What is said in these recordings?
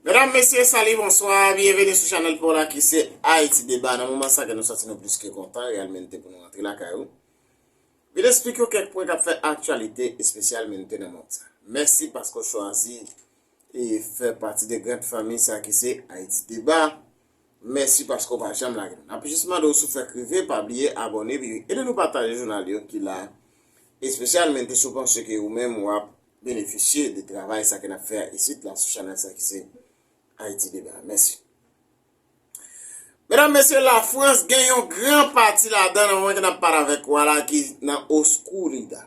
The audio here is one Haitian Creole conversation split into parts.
Medam, mesye, sali, bonswa, byenveni sou chanel pou la ki se Haiti Deba. Nan mouman sa ke nou soti nou pliske kontan, real menite pou nou antre la kayou. Vil esplike ou kek pwen kap fe aktualite espesyal menite nan moun sa. Mèsi paske ou chwazi e fè pati de grand fami sa ki se Haiti Deba. Mèsi paske ou pa janm lage nou. Nap jis mande w si w fèk rive pa bliye abòne epi ede nou pataje jounal yo ki la espesyalmente si w panse ke ou menm wap benefisye de travay sa ke nap fè a isit la sou chanèl sa ki se Haïti Débat. Mèsi. Medam mesye la France gen yon gran pati ladan nan moman ke nap pale avèk ou a la ki nan Oscurida.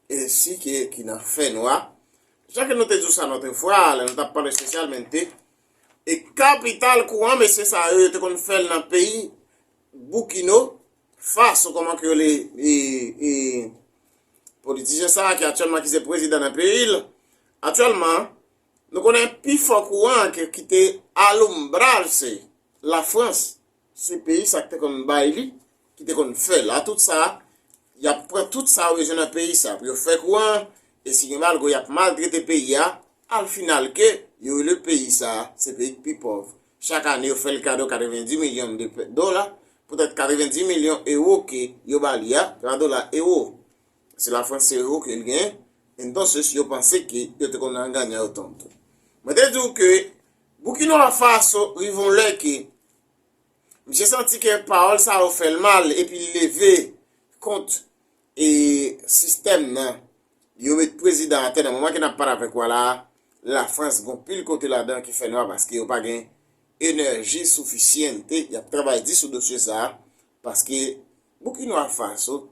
Ensi ke ki nan fènwa, jan ke nou te di w sa lòtre fwa, lè nou t ap pale espesyalmente, e kapital kouran mesye sa yo, yo te konn fè l nan peyi Boukino Faso, kòman ke yo rele e politisyen sa a ki aktyèlman ki se prezidan nan peyi l, aktyèlman, nou konnen pi fò kouran ki te alombrajse Lafrans, Sou peyi sa ki te konn bay li, ki te konn fè la tout sa, y ap pran tout sa yo bezwen nan peyi sa pou yo fè kouran an, e si gen malgre y ap maltrete peyi a, al final ke yo rele peyi sa se peyi k pi pòv. Chak ane yo fè l kado 90 milyon de dola, poutèt 90 milyon ewo ke yo ba li a, se pa dola, ewo, se la Frans se ewo ke l genyen, entonces yo panse ke yo te konn nan ganyan yo tonn tou. Mwen te di w ke Boukinawa Faso rive yon lè ke Misye santi ke pawòl sa yo fè l mal epi l leve kont e sistèm nan. Yo met prezidan atè nan moman ke n ap pale avèk ou a la a, Lafrans gon pil kote ladan ki fè nwa paske yo pa gen enèji soufisyente y ap travay di sou dosye sa a paske Boukinwa Faso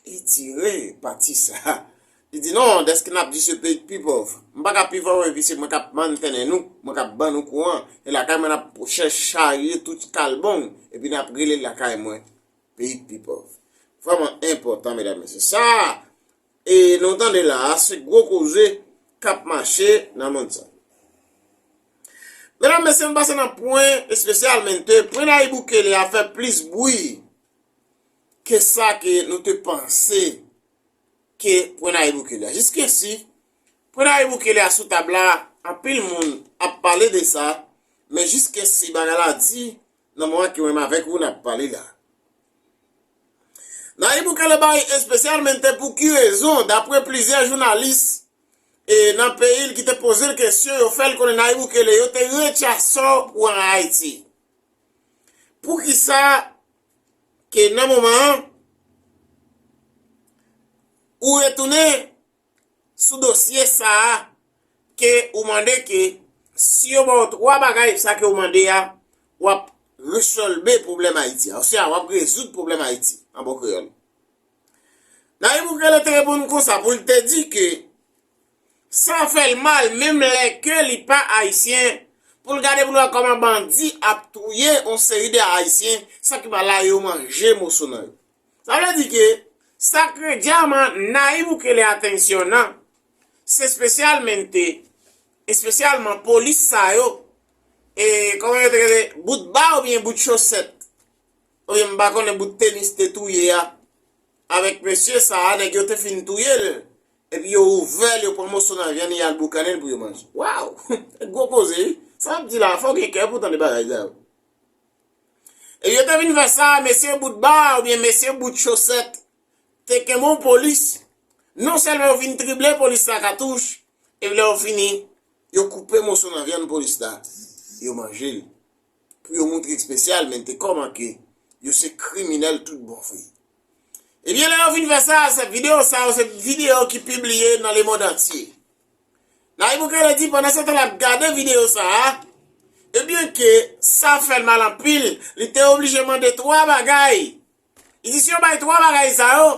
Li tire pati sa. Li di non, dèske n ap di se peyi k pi pòv. M pa ka pi pòv epi se mwen k ap mantènen nou, mwen k ap ban nou kouran. E lakay mwen n ap charye tout kalbon epi n ap rele lakay mwen peyi k pi pòv. Vrèman enpòtan medam mesye. Sa e nou tande la a se gwo koze k ap mache nan monn sa. Medam mesye nou pase nan pwen espesyal men te pwen Nayib Bukele a fè plis bwi. ke sa ke nou te panse ke pwen Nayib Bukele a. Jiskesi, pwen Nayib Bukele a sou tab la, anpil moun ap pale de sa, men jiskesi bagay la di nan moman ke mwen menm avèk ou n ap pale la. Nayib Bukele bay espesyalmente pou ki rezon, dapre plizyè jounalis e nan peyi l ki te poze l kesyon, yo fè l konnen Nayib Bukele yo te rechaso pou an Ayiti. Pou ki sa? ke nan moman an, ou retounen sou dosye sa a ke ou mande ke si yo ba w 3 bagay sa ke ou mande a, w ap resolbe pwoblèm Ayiti a, oswa w ap rezoud pwoblèm Ayiti, an bon kreyòl. Nayib Bukele te reponn konsa pou l te di ke Sa fèl mal menm lè ke li pa ayisyen pou l gade pou l wè kòman bandi ap touye yon seri de ayisyen sa ki pa la yo manje moso nan yo. Sa vle di ke sa ke dyaman Nayib Bukele atenciona se specialmente espesyalman polis sa yo e kòman yo te rele bout ba oubyen bout chosèt oubyen m pa konnen bout tenis te touye a avèk mesye sa nèg yo te fin touye l Epi yo ouvè l, yo pran moso nan vyann li al boukannen l pou yo manje. Waw! Se gwo koze wi. Sa wap di la, fò w gen kè pou w tande bagay sa yo. Epi yo te vin fè sa, mesye bout ba oubyen mesye bout chosèt te kenbe yon polis, non sèlman yo vin trible polis la katouch, epi lè yo fini, yo koupe moso nan vyann polis la, yo manje l. pou yo moutre espesyal men te kòman ke yo se kriminèl tout bon vre. Ebyen lè yo fin fè sa, se videyo sa yo se videyo ki pibliye nan le mond antye. Nayib Bukele di pandan se tan l ap gade videyo sa a, ebyen ke sa fè l mal anpil, li te oblije mande 3 bagay. Li di si yo bay 3 bagay sa yo,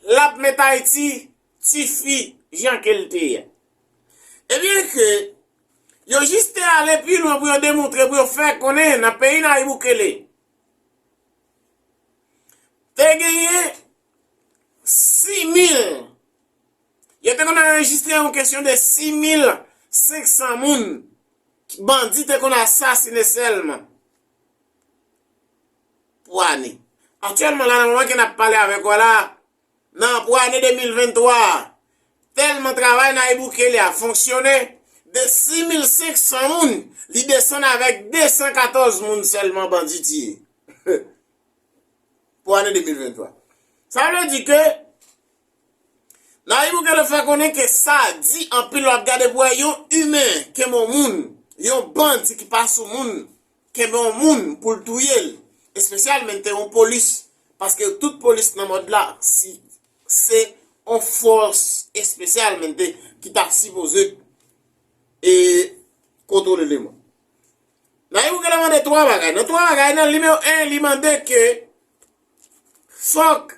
l ap met Ayiti tifi jan ke l te ye. Ebyen ke yo jis te ale pi lwen pou yo demontre, pou yo fè konnen nan peyi Nayib Bukele te genyen 6000, yo te konn anrejistre yon kesyon de 6500 moun bandi te konn asasine sèlman pou ane. Aktyèlman la nan moman ke n ap pale avèk ou a la, Nan pou ane 2023 a, tèlman travay Nayib Bukele a fonksyone, de 6500 moun, li desann avèk 214 moun sèlman bandi tiye. Pou ane 2023. Sa vle di ke Nayib Bukele fè konnen ke sa di anpil wap gade pou wè yon imen ke mo moun, yon bandi ki pa sou moun. kenbe yon moun pou l touye l espesyalmente yon polis paske tout polis nan mond la si se yon fòs espesyalmente ki ta sipoze e kontwole le mond nan yon gèlè mande 3 bagay nan 3 bagay nan nimewo 1 li mande ke fòk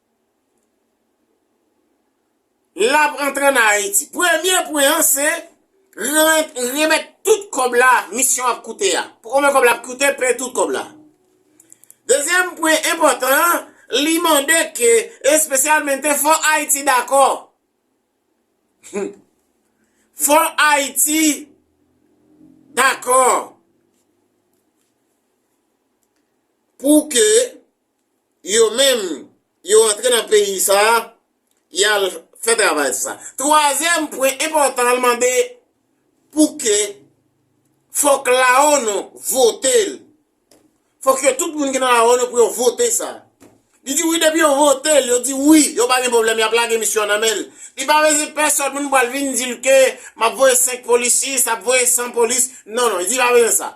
lap antre an Ayiti. Premye pwen an se remèt tout kòb la misyon ap koute a. Pou konbyen kòb la ap koute, peye tout kòb la. Dezyèm pwen enpòtan an, li mande ke espesyalmente fò Ayiti dakò. Fò Ayiti dakò pou ke yo menm yo antre nan peyi sa a, y al fè travay sa. Twazyèm pwen enpòtan l mande pou ke fòk laONU vote l. Fòk yo tout moun ki nan laONU pou yo vote sa. Li di wi depi yo vote l, yo di wi, yo pa gen pwoblèm y ap lage misyon an nan men l. Li pa bezwen pèsòn moun pou al vin di l ke m ap voye 5 polisye, sa ap voye 100 polis. Non non, li di pa bezwen sa.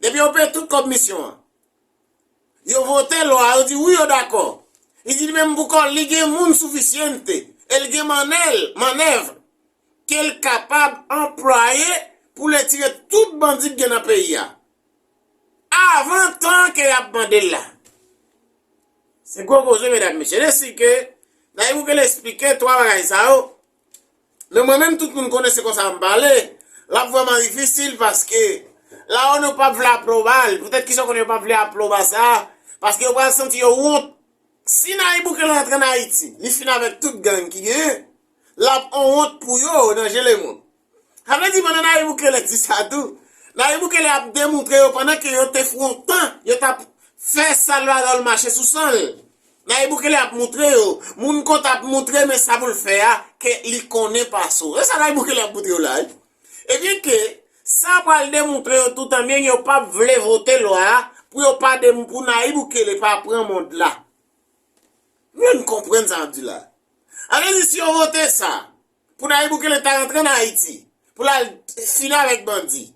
Depi yo peye tout kòb misyon an. Yo vote lwa, yo di wi yo dakò. Li di li menm pou kò l, li gen moun suficiente e l gen manèl, manèv, ke l kapab anplwaye pou l etire tout bandi k gen nan peyi a. Avan tan ke y ap mande l la. Se gwo koze medam mesye. Desi ke Nayib Bukele esplike 3 bagay sa yo, Men mwen menm tout moun konnen se konsa m pale, l ap vrèman difisil paske la onu p ap vle apwoba l. Poutèt kisa ou konnen yo p ap vle apwoba sa? Paske yo pral santi yo wont. Si Nayib Bukele antre ann Ayiti, li fin avèk tout gang ki genyen, l ap on wont pou yo nan je lemonn. Sa vle di pandan Nayib Bukele di sa tou, Nayib Bukele ap demoutre yo pandan ke yo te fwontan, yo t ap fè sal bagay yo l mache sou san l. Nayib Bukele ap moutre yo, moun kont ap moutre men sa pou l fè a, ke li konnen pa so. E sa Nayib Bukele ap moutre yo la wi. E byen ke sa pral demoutre yo tou tan byen ke yo pa p vle vote lwa a pou yo pa dem pou Nayib Bukele pa pran mond la. M vle n konprann sa m ap di la. A vle di si yo vote sa, pou Nayib Bukele ta rantre an Ayiti, pou l al fini avèk bandi.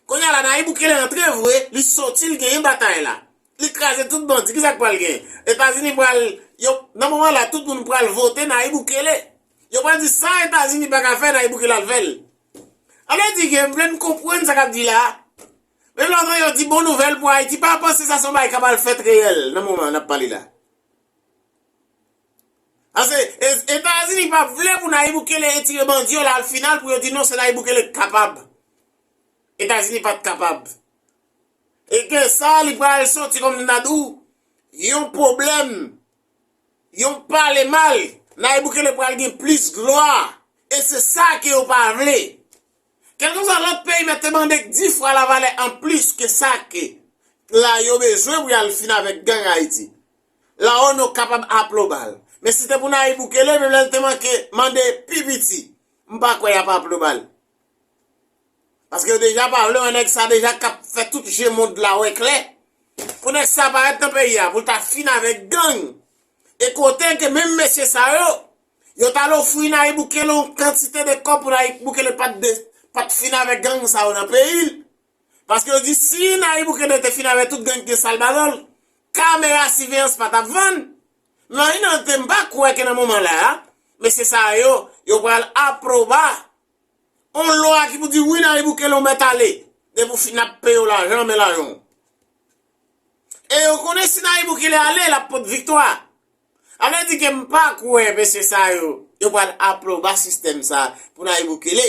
Kounye a la Nayib Bukele antre vre, li soti li genyen batay la. Li kraze tout bandi kisa k pral genyen? Etazini pral, yo, nan moman la tout moun pral vote Nayib Bukele. Yo pral di sa Etazini pa ka fè Nayib Bukele al fè l. Sa vle di ke m vle n konprann sa k ap di la a. Menm lè w tande yo di bon nouvèl pou Ayiti pa panse sa se yon bagay k ap al fèt reyèl nan moman n ap pale la. Pase etazini pa vle pou Nayib Bukele etire bandi yo la al final pou yo di non se Nayib Bukele ki kapab. Etazini pat kapab. E ke sa li pral soti kom nou ta di w yon pwoblèm yon pale mal Nayib Bukele pral gen plis glwa e se sa ke yo pa vle. Kelkeswa lot peyi mèt te mande k di fwa lavalè an plis ke sa ke la yo bezwen pou y al fin avèk gang Ayiti. La Ono kapab aplobal. Men si te pou Nayib Bukele menm lè li te manke mande pi piti m pa kwè yap aplobal. Paske yo deja pa vle wè nèg sa deja kap fè tout je mond la wè klè. Pou nèg sa parèt nan peyi a pou l ta fin avèk gang. E kote ke menm mesye sa yo, yo t al ofri Nayib Bukele yon kantite de kòb pou Nayib Bukele pat fin avèk gang sa yo nan peyi l. Paske yo di si Nayib Bukele te fin avè tout gang ki gen sal balon l, kamera siveyans pa tap vann. Men an inante m pa kwè ke nan moman la a, mesye sa yo, yo pral aproba on lwa ki pou di wi Nayib Bukele ou mèt ale, depi ou fin ap peye w lajan men lajan w. E yo konnen si Nayib Bukele ale, lap pot viktwa. A vle di ke m pa kwè mesye sa yo, yo pral aproba sistèm sa pou Nayib Bukele.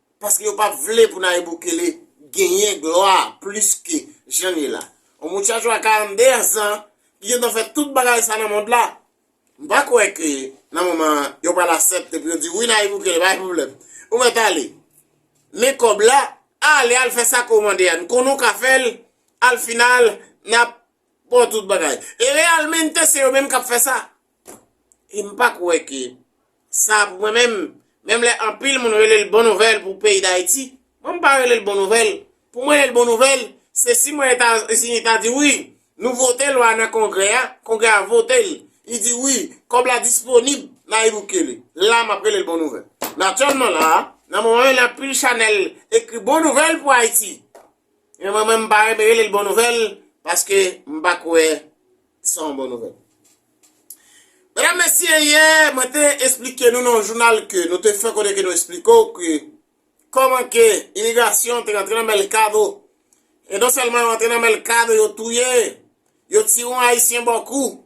paske yo pap vle pou Nayib Bukele genyen glwa plis ke jan li la. On muchacho a 42 ans lan ki gentan fè tout bagay sa nan mond la, m pa kwè ke nan moman an yo pral asèpte pou yo di wi Nayib Bukele pa gen pwoblèm ou mèt ale men kòb la, ale al fè sa ke w mande a n konnen w ka fè l al final nap ba w tout bagay e realmente se yo menm kap fè sa. Em pa kwè ke sa pou mwen menm, menm lè anpil moun rele l bon nouvèl pou peyi Dayiti, mwen m pa rele l bon nouvèl. Pou mwen rele l bon nouvèl, se si mwen Etazini ta di wi, nou vote lwa nan kongrè a, kongrè a vote l, li di wi, kòb la disponib, Nayib Bukele. La m ap rele l bon nouvèl. Men aktyèlman la a, nan moman menm la anpil chanèl ekri bon nouvèl pou Ayiti. Men mwen menm m pa renmen rele l bon nouvèl paske m pa kwè se yon bon nouvèl. Medam mesye yè mwen te esplike nou nan jounal ke nou te fè konnen ke nou esplike w ke kòman ke imigrasyon te rantre nan mèlkado e non sèlman yo rantre nan mèlkado yo touye yo tire yon ayisyen bò kou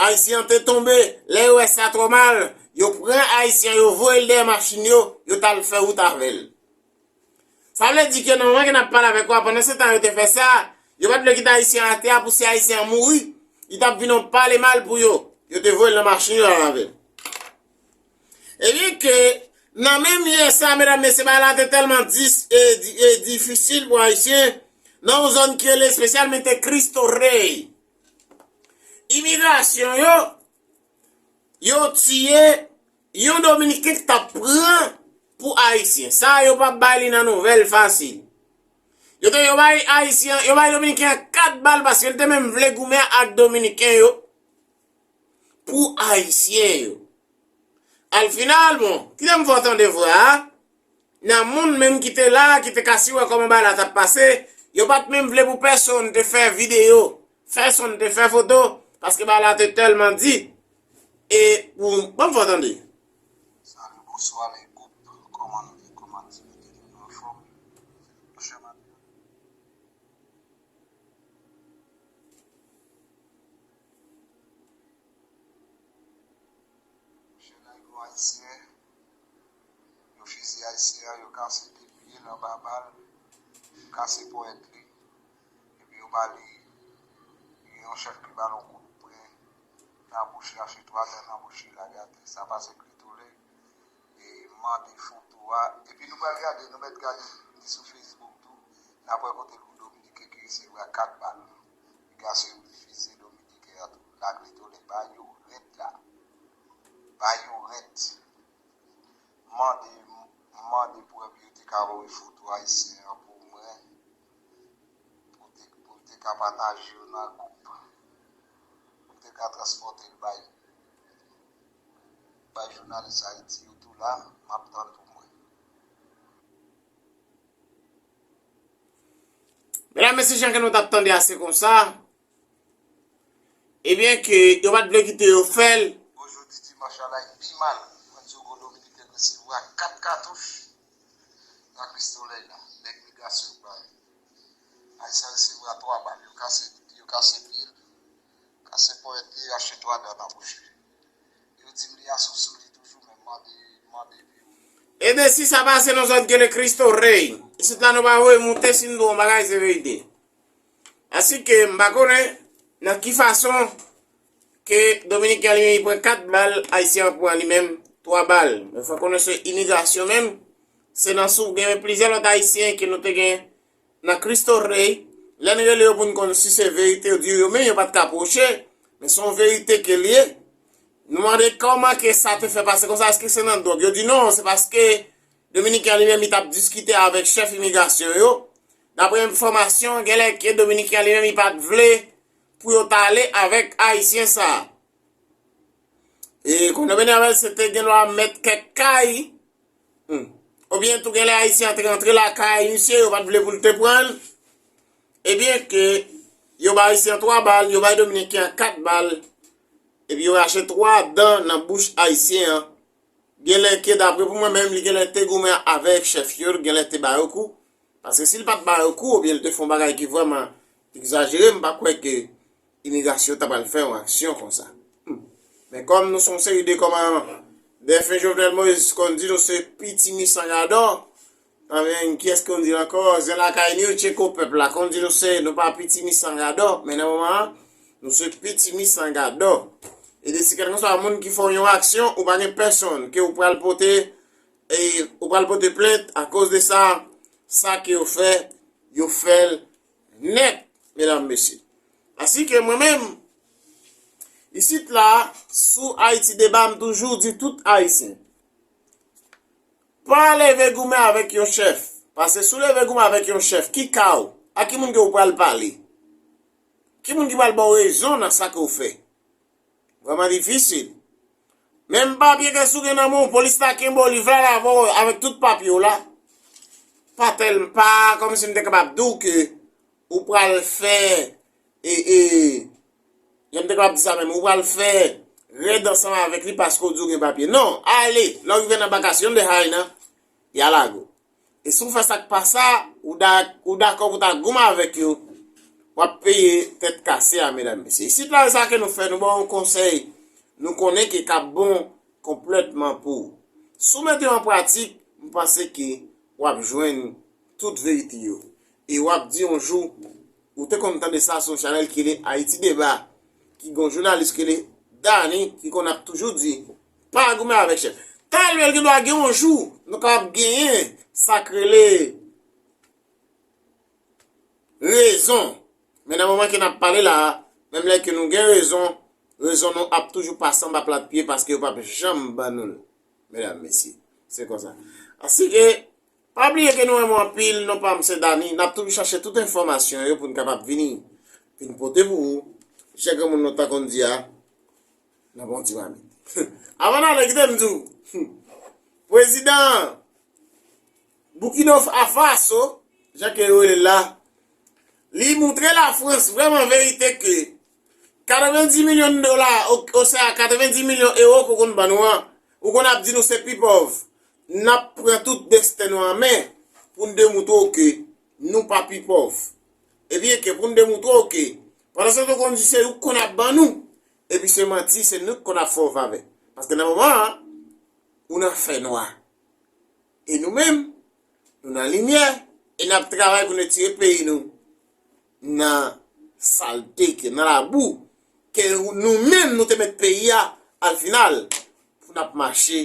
ayisyen an te tonbe lè yo wè sa twò mal yo pran ayisyen an yo voye l dèyè machin yo yo t al fè wout avè l. Sa vle di ke nan moman ke nap pale avèk ou a, pandan se tan yo te fè sa, yo pat vle kite Ayisyen an atè a pou si Ayisyen an mouri, li tap vin yon pale mal pou yo. Yo te voye l nan machin yo al avè l. Ebyen ke nan menm lyen sa, medam, mesye, bagay la te tèlman dis e e difisil pou Ayisyen nan yon zòn ki rele espesyalmente Cristo Rey. Imigrasyon yo, yo tiye. Yon dominiken k tap pran pou ayisyen. Sa yo pa bay li nan nouvèl fasil. Yo te yo bay ayisyen, yo bay dominiken an 4 bal paske li te menm vle goumen ak dominiken yo pou ayisyen yo. Al final bon, kite m fè w tande vwa a, nan moun menm ki te la, ki te ka si wè kòman bagay la tap pase, yo pat menm vle pou pèsonn te fè videyo Fayson te fè foto paske bagay la te tèlman di e pou banm fè w tande. Salut bonswa le group koman nou ye koman aktivite yo nou anfom nou fèm ap gade nou chè lago ayisyen yo fiziye ayisyen an yo kase 2 pye l anba bal yo kase ponyèt li Epi yo ba li yon chèk li ba l yon kout pre nan bouch li achte twa dan nan bouch li lage atè sa pase klitole e mande foto a epi nou pral gade nou mèt gade li sou facebook tou nap wè kote pou dominiken ki resevwa 4 bal piga se yon fizye dominiken an tou la klitole ba yo rèd la ba yo rèd mande mande prèv yo te ka voye foto ayisyen an pou mwen Pou m te ka pataje yo nan gwoup. Pou m te ka transpòte l bay jounalis Ayiti yo tou la, m ap tann pou mwen. Medam, mesye, jan ke nou t ap tande a se konsa, E byen ke yo pat vle kite yo fèl. Bon jodi dimanch la lay pi mal mwen diw gon dominiken resevwa 4 katouch nan kristolèy la nèg migrasyon yo bay ayisyen resevwa 3 bal yo kase yo kase pyel kase ponyèt li rache 3 dan nan bouch li yo dim li asou sou li toujou men mande mande pi wo. Ebyen si sa pase nan zòn gele kristo rèy isit la nou pa voye moute si nou di yon bagay se verite. Asi ke m pa konnen nan ki fason ke Dominiken li menm li pran 4 bal, Ayisyen an pran li menm 3 bal. Mwen fè konnen se imigrasyon menm, se nan sou gen men plizyè lòt Ayisyen ke nou te gen nan Christo Rey, lè n rele yo pou n konn si se verite yo di yo menm yo pa t ka pwoche, men se yon verite ke l ye. Nou mande kòman ke sa te fè pase konsa, eske se nan dwòg? Yo di non, se paske Dominiken an li menm li t ap diskite avèk chèf imigrasyon yo, Daprè enfòmasyon, genlè ke Dominiken an li menm li pa t vle pou yo t ale avèk Ayisyen sa a. E konn yo mennen avè l se te gendwa mèt kèk kay, oubyen tou genlè Ayisyen an te rantre lakay misye yo pa t vle pou l te pran l, e byen ke yo bay Ayisyen an 3 bal, yo bay Dominiken an 4 bal, epi yo rache 3 dan nan bouch Ayisyen an. Genlè ke daprè pou mwen menm li genlè te goumen avèk chèf yo, genlè te ba yo kou, Paske si l pa t ba yo kou oubyen l te fè yon bagay ki vrèman egzajere m pa kwè ke imigrasyon ta pral fè yon aksyon konsa. Men kòm nou se yon seri de kòman dèfen Jovenel Moïse konn di nou se pitimi san gadò anben ki èske konn di l ankò zen lakay ni yo tcheko pèp la konn di nou se nou pa pitimi san gadò men nan moman an nou se pitimi san gadò e de si kèlkanswa moun ki fè w yon aksyon ou pa gen pèsonn ke ou pral pote E ou pral pote plent akoz de sa, sa ke yo fè, yo fèl nèt, medam, mesye. Asi ke mwen menm, isit la, sou Ayiti Deba, m toujou di tout Ayisyen, pa leve goumen avèk yon chèf, pase sou leve goumen avèk yon chèf, ki ka ou? A ki moun ke ou pral pale? Ki moun ki pral ba ou rezon nan sa ke ou fè? Vrèman difisil. Menm papye kès ou gen nan men w polis ta kenbe w li vle al avè w avèk tout papye w la. Pa tèl pa kòm si m te kapab di w ke ou pral fè e e jan m te kapab di sa menm ou pral fè rèd ansanm avèk li paske w di w gen papye. Non! Ale! Lè w rive nan bakasyon de Haina, ya lage w. E si w fè sa k pa sa, ou dakò pou ta goumen avèk yo, w ap peye tèt kase a medam mesye. Isit la e sa ke nou fè, nou ba w yon konsèy nou konnen ke k ap bon konplètman pou ou. Si w mete yo an pratik, m panse ke w ap jwenn tout verite yo. E w ap di yon jou, ou te konn tande sa sou yon chanèl ki rele Ayiti Deba, ki gen yon jounalis ki rele Dany ki konn ap toujou di, Pa goumen avèk chèf. Talè gen dwa gen yon jou nou kapab genyen sa k rele rezon. Men nan moman ke n ap pale la a, menm lè ke nou gen rezon, rezon nou ap toujou pase anba plat pye paske yo p ap janm ban nou l. Medam, mesye, se konsa. Asike, pa bliye ke nou renmen w anpil, non pa m se Dany. N ap toujou chache tout enfòmasyon yo pou n kapab vini, vini pote pou ou. Jan granmoun lontan konn di a, Nan bon ti mamit. Avan n ale kite m di w, pwezidan Boukino Faso, jan ke yo rele l la, li moutre Lafrans vrèman verite ke 90 milyon dola, osea 90 milyon ewo ke w konn ban nou an, ou konn ap di nou se pi pòv, n ap pran tout desten nou an men pou n demoutre w ke nou pa pi pòv. Ebyen ke pou n demoutre w ke pandan se tan w konn di se ou k konn ap ban nou, Epi se manti se nou ki konn ap fè w favè paske nan moman an ou nan fè nwa e nou menm nou nan limyè e nap travay pou n retire peyi nou nan salte ke nan labou ke nou menm nou te met peyi a al final pou nap mache